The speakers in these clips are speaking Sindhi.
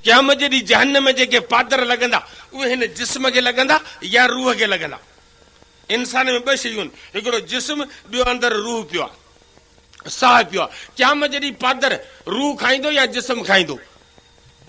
قيامت جي ڏينهن جهنم ۾ جيڪي پادر لڳندا، اهي هن جسم کي لڳندا يا روح کي لڳندا. انسان ۾ ٻه شيون، هڪڙو جسم، ٻيو اندر روح پيو آهي، ساهه پيو آهي. قيامت جي ڏينهن پادر روح کائيندو يا جسم کائيندو؟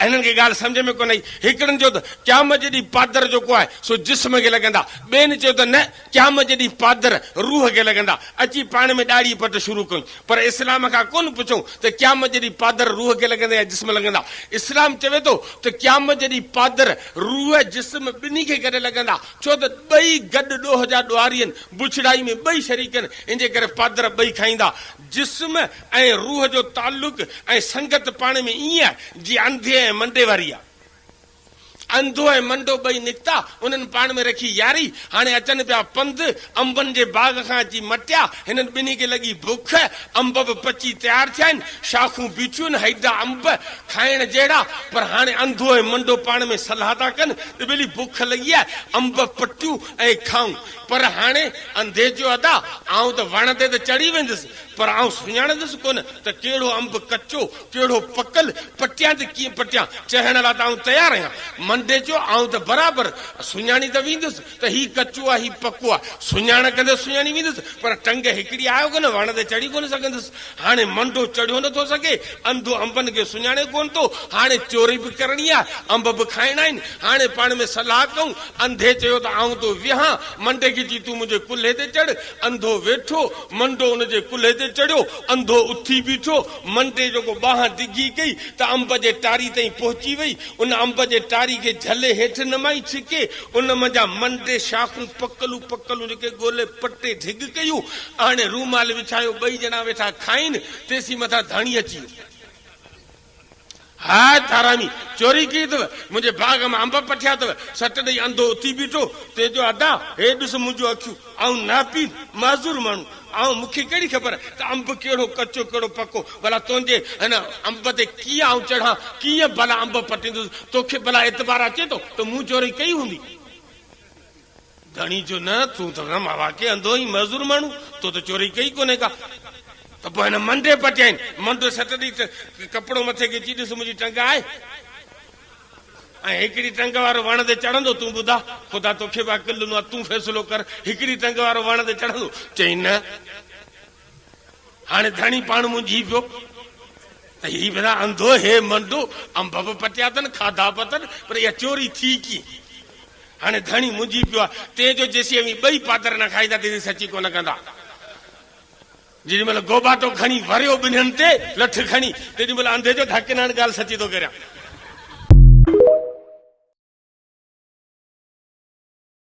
هنن کي ڳالهه سمجهه ۾ ڪونه آئي. هڪڙن چيو ته قيامت جي ڏينهن پادر جيڪو آهي، سو جسم کي لڳندا. ٻين چيو ته نه! قيامت جي ڏينهن پادر، روح کي لڳندا، اچي پاڻ ۾ ڏاڙهي پٽ شروع ڪيون. پر اسلام کان ڪونه پڇيون ته قيامت جي ڏينهن پادر روح کي لڳندا يا جسم لڳندا. اسلام چوي ٿو ته قيامت جي ڏينهن پادر، روح، جسم ٻنهي کي گڏ لڳندا، ڇو ته ٻئي گڏ ڏوهه جا ڏوهاري آهن، بڇڙائي ۾ ٻئي شريڪ آهن، ان جي ڪري پادر ٻئي کائيندا. جسم ۽ روح جو تعلق ۽ سنگت پاڻ ۾ ائين آهي، جيئن انڌي ۽ منڊي واري آهي. انڌو ۽ منڊو ٻئي نڪتا، انهن پاڻ ۾ رکي ياري. هاڻي اچن پيا پنڌ، انبن جي باغ کان اچي مٽيا. هنن ٻنهي کي لڳي بک، انب به پچي تيار ٿيا آهن، شاخون بيٺيون آهن، هيڊا انب کائڻ جهڙا. پر هاڻي انڌو ۽ منڊو پاڻ ۾ صلاح ٿا ڪن ته ٻلي بک لڳي آهي، انب پٽيون ۽ کائون. پر هاڻي انڌي چيو ادا، آئون ته وڻ تي ته چڙهي ويندس، پر آئون سڃاڻندس ڪونه ته ڪهڙو انب ڪچو ڪهڙو پڪل پٽيان ته ڪيئن پٽيان، چهڻ لا ته آئون تيار آهيان. منڊي چيو، آئون ته برابر سڃاڻي ته ويندس ته هي ڪچو آ هي پڪو آ. سڃاڻ ڪندس سڃاڻي ويندس پر ٽنگ هڪڙي آهيو ڪونه وڻ تي چڙهي ڪونه سگهندس. هاڻي منڊو چڙهيو نه ٿو سگهي، انڌو انبن کي سڃاڻي ڪونه ٿو، هاڻي چوري به ڪرڻي آ، انب به کائڻا آهن، هاڻي پاڻ ۾ صلاح ڪئون. انڌي چيو ته آئون ٿو ويهان. منڊي کي چي تون منهنجي ڪلهي تي چڙهه. انڌو ويٺو، منڊو ان جي ڪلهي تي چڙهيو، انڌو اٿي بيٺو. منٽي جو ڪو ٻانهن ڊگهي ڪئي ته انب جي ٽاري تائين پهچي وئي. ان انب جي ٽاري کي جهلي هيٺ نمائي ڇڪي. ان منجهان منٽي شاخون پڪلون پڪلون جيڪي ڳولي پٽي ڍڳ ڪيون. آڻي رومال وڇايو. ٻئي ڄڻا ويٺا کائين. تيسين مٿان ڌڻي اچي ويو. هاء ٿارامي! چوري ڪئي اٿو، منهنجي باغ مان انب پٺيا اٿو. سٽ ڏئي انڌو اٿي بيٺو، تنهن چيو، ادا، هي ڏس منهنجون اکيون، آئون ناپيل، معذور ماڻهو آهيان، مون کي ڪهڙي خبر ته انب ڪهڙو ڪچو ڪهڙو پڪو، ڀلا تنهنجي هن انب تي ڪيئن آئون چڙهان، ڪيئن ڀلا انب پٽيندس، توکي ڀلا اعتبار اچي ٿو ته مون چوري ڪئي هوندي؟ ڌڻي چيو، نه، تون ته غم هوا کي انڌو آهين، معذور ماڻهو، تو ته چوري ڪئي ڪونهي ڪا. ته پوء هن منڍي پٽيائين، منڍ سٽ ڏئي ته ڪپڙو مٿي کي چي، ڏس منهنجي ٽنگ آهي ۽ هڪڙي ٽنگ وارو وڻ تي چڙهندو، تون ٻڌاء، خدا توکي به عقل ڏنو آهي، تون فيصلو ڪر، هڪڙي ٽنگ وارو وڻ تي چڙهندو؟ چيائين، نه. هاڻي ڌڻي پاڻ منجهي پيو ته هي ڀلا انڌو هي منڊو، انب به پٽيا اٿن، کاڌا به اٿن، پر اها چوري ٿي ڪيئن؟ هاڻي ڌڻي منجهي پيو آهي، تنهن جو جيسين اوهين ٻئي پادر نه کائيندا تيسين سچي ڪونه ڪندا. جيڏي مهل گوباٽو کڻي وريو ٻنهين تي، لٺ کڻي، تيڏي مهل انڌي چيو ته حقين هاڻي ڳالهه سچي ٿو ڪريان.